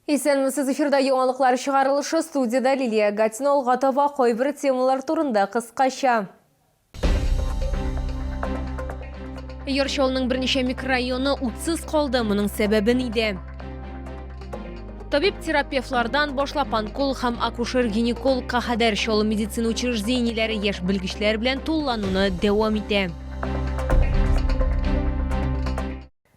Исәнмесез, эфирда яңалыклар чыгарылышы, студиядә Лилия Гатина алга таба кайбер темалар турында кыскача. Яр Чалының берничә микрорайоны утсыз калды, моның сәбәбе нидә? Табиб-терапевтлардан башлап онкол һәм акушер-гинекологка кадәр Чаллы медицина учреждениеләре яшь белгечләр белән тулылануны дәвам итә.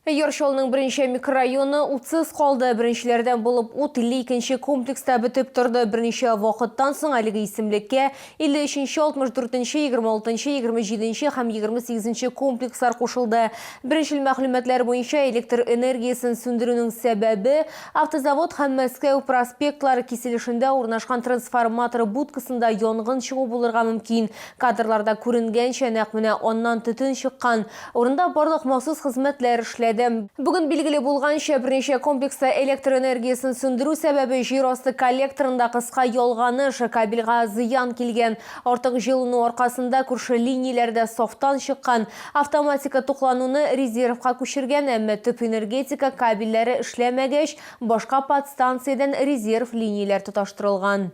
Яр Чалның беренче микрорайоны утсыз калды. Беренчеләрдән булып ут 52-нче комплекста бетеп торды. Берничә вакыттан соң әлеге исемлеккә 53-нче, 64-нче, 26-нчы, 27-нче һәм 28-нче комплекслар кушылды. Беренчел мәгълүматлар буенча, электр энергиясен сүндерүнең сәбәбе, Автозавод һәм Мәскәү проспектлары киселешендә урнашкан трансформатор будкасында янгын чыгу булырга мөмкин. Кадрларда күренгәнчә, нәкъ менә аннан төтен чыккан. Урында барлык махсус хезмәтләр эшләде. Бүген билгеле булганча, берничә комплекста электр энергиясен сүндерү сәбәбе җир асты коллекторында кыска ялганыш, кабельгә зыян килгән. Артык җылыну аркасында күрше линияләр дә сафтан чыккан. Автоматика туклануны резервка күчергән, әмма төп энергетика кабельләре эшләмәгәч, башка подстанциядән резерв линияләр тоташтырылган.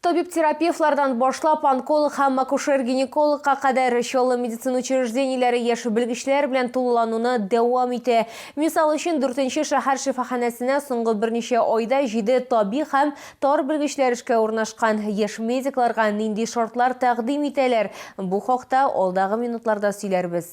Табиб-терапевтлардан башлап, онколог һәм акушер-гинекологка кадәр чаллы медицина учреждениеләре яшь белгечләр белән тулылануны дәвам итә. Мисал өчен, дүртенче шәһәр шифаханәсенә соңгы берничә айда җиде табиб һәм тар белгечләр эшкә урнашкан. Яшь медикларга нинди шартлар тәкъдим итәләр? Бу хакта алдагы минутларда сөйләрбез.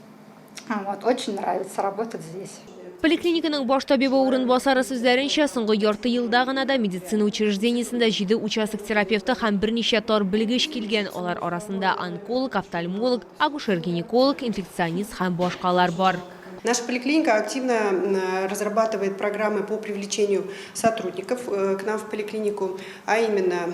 Вот, очень нравится работать здесь. Поликлиниканың баш табибы урынбасары сүзләренчә, соңгы ярты елда гына да медицина учреждениесендә җиде участок терапевты һәм берничә тар белгеч килгән. Алар арасында онколог, офтальмолог, акушер-гинеколог, инфекционист һәм башкалар бар. Наша поликлиника активно э, разрабатывает программы по привлечению сотрудников э, к нам в поликлинику, а именно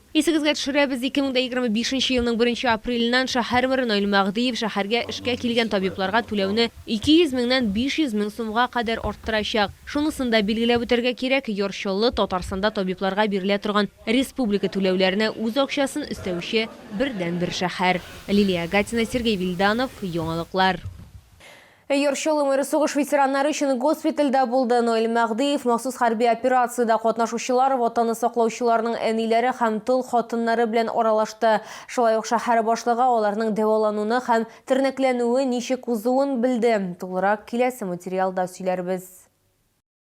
Исегезгә төшерәбез, 2025 нче елның беренче апреленнән шәһәрмэр Наил Мәгъдиев шәһәргә эшкә килгән табибларга түләүне 200 меңнән 500 мең сумга кадәр арттырачак. Шунысын да билгеләп үтәргә кирәк, Яр Чаллы Татарстанда табибларга бирелә торган республика түләүләренә үз акчасын өстәүче бердәнбер шәһәр. Лилия Гатина, Сергей Вильданов, Яңалыклар. Йорчы Лумер сугыш ветераннары өчен госпитальдә булды. Ноэль Мәгъдиев махсус хәрби операциядә катнашучылар, Ватанны саклаучыларның әниләре һәм тол хатыннары белән аралашты. Шулай ук шәһәр башлыгы аларның дәвалануны һәм тернәкләнүе ничек узуын белде. Тулырак киләсе материалда сөйләрбез.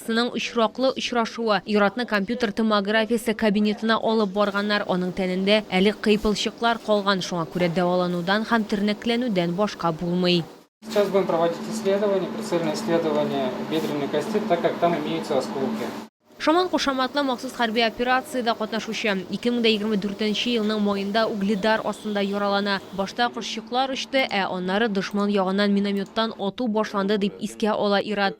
Сының очраклы очрашуы. Иратны компьютер томографиясе кабинетына алып барганнар, аның тәнендә әле кыйпылчыклар калган, шуңа күрә дәваланудан һәм тернәкләнүдән башка булмый. Сейчас будем проводить исследование, прицельное исследование бедренной кости, так как там имеются осколки. Шаман кушаматлы махсус хәрби операциядә катнашучы. 2024 нче елның маенда Угледар астында яралана. Башта кошчыклар очты, ә аннары дошман ягыннан минометтан ату башланды, дип искә ала ир-ат.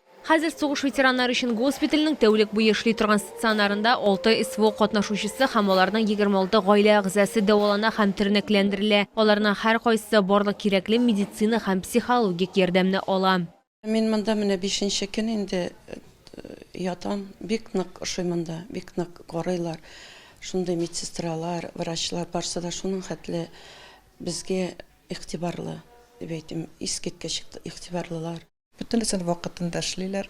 Хәзер сугыш ветераннары өчен госпитальнең тәүлек буе эшли торган стационарында алты СВО катнашучысы һәм аларның 26 гаилә әгъзасы дәвалана һәм тернәкләндерелә. Аларның һәркайсысы барлык кирәкле медицина һәм психологик ярдәмне ала. Мин монда менә бишенче көн инде ятам. Бик нык ошый монда, бик нык карыйлар. Шундый медсестралар, врачлар, барсы да шуның хәтле безгә игътибарлы, дип әйтим, искиткеч игътибарлылар. Бөтенесен вакытында эшлиләр,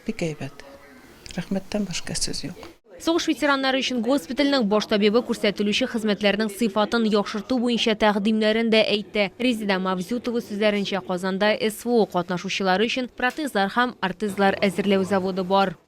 бик әйбәт. Рәхмәттән башка сүз юк. Сугыш ветераннары өчен госпитальнең баш табибы күрсәтелүче хезмәтләрнең сыйфатын яхшырту буенча тәкъдимнәрен дә әйтте. Резеда Мавзютова сүзләренчә, Казанда СВО катнашучылары өчен протезлар һәм ортезлар әзерләү заводы бар.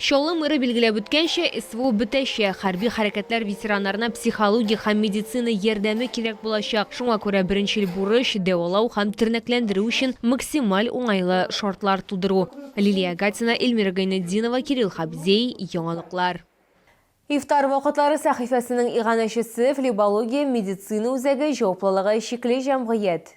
Чаллы мэры билгеләп үткәнчә, СВО бетәчәк, хәрби хәрәкәтләр ветераннарына психологик һәм медицина ярдәме кирәк булачак, шуңа күрә беренчел бурыч, дәвалау һәм тернәкләндерү өчен максималь уңайлы шартлар тудыру. Лилия Агатина, Эльмира Гайнетдинова, Кирилл Хабзей, Яңалыклар. Ифтар вакытлары сәхифәсенең иганәчесе, Флебология медицина үзәге җаваплылыгы чикле җәмгыять.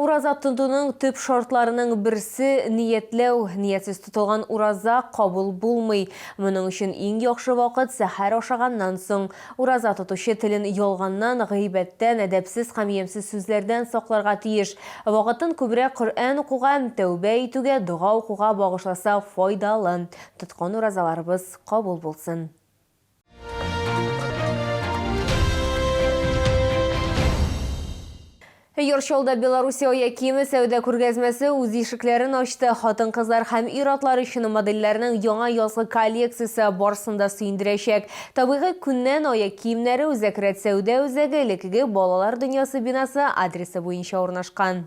Ураза тотуның төп шартларының берсе, ниятләү. Ниятсез тотылган ураза кабул булмый. Моның өчен иң яхшы вакыт, сәхәр ашаганнан соң. Ураза тотучы телен ялганнан, гыйбәттән, әдәпсез һәм ямьсез сүзләрдән сакларга тиеш. Вакытын күбрәк Коръән укуга, тәүбә итүгә, дога укуга багышласа файдалы. Тоткан уразаларыбыз кабул булсын! Йоршолда Белоруссия ая киеме сәүдә күргәзмәсе үз ишекләрен ачты. Хатын-кызлар һәм ир-атлар өчен модельләрнең яңа язгы коллекциясе барсын да сөендерәчәк. Табигый күннән ая киемнәре Үзәк рәт сәүдә үзәге элеккеге балалар дөньясы бинасы адресы буенча урнашкан.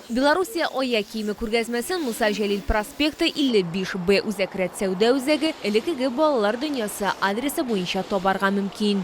Белоруссия аяк киеме күргәзмәсен Муса Җәлил проспекты, 55 Б үзәк рәтсәүдә үзәге, элеккеге Балалар дөньясы, адресы буенча табарга мөмкин.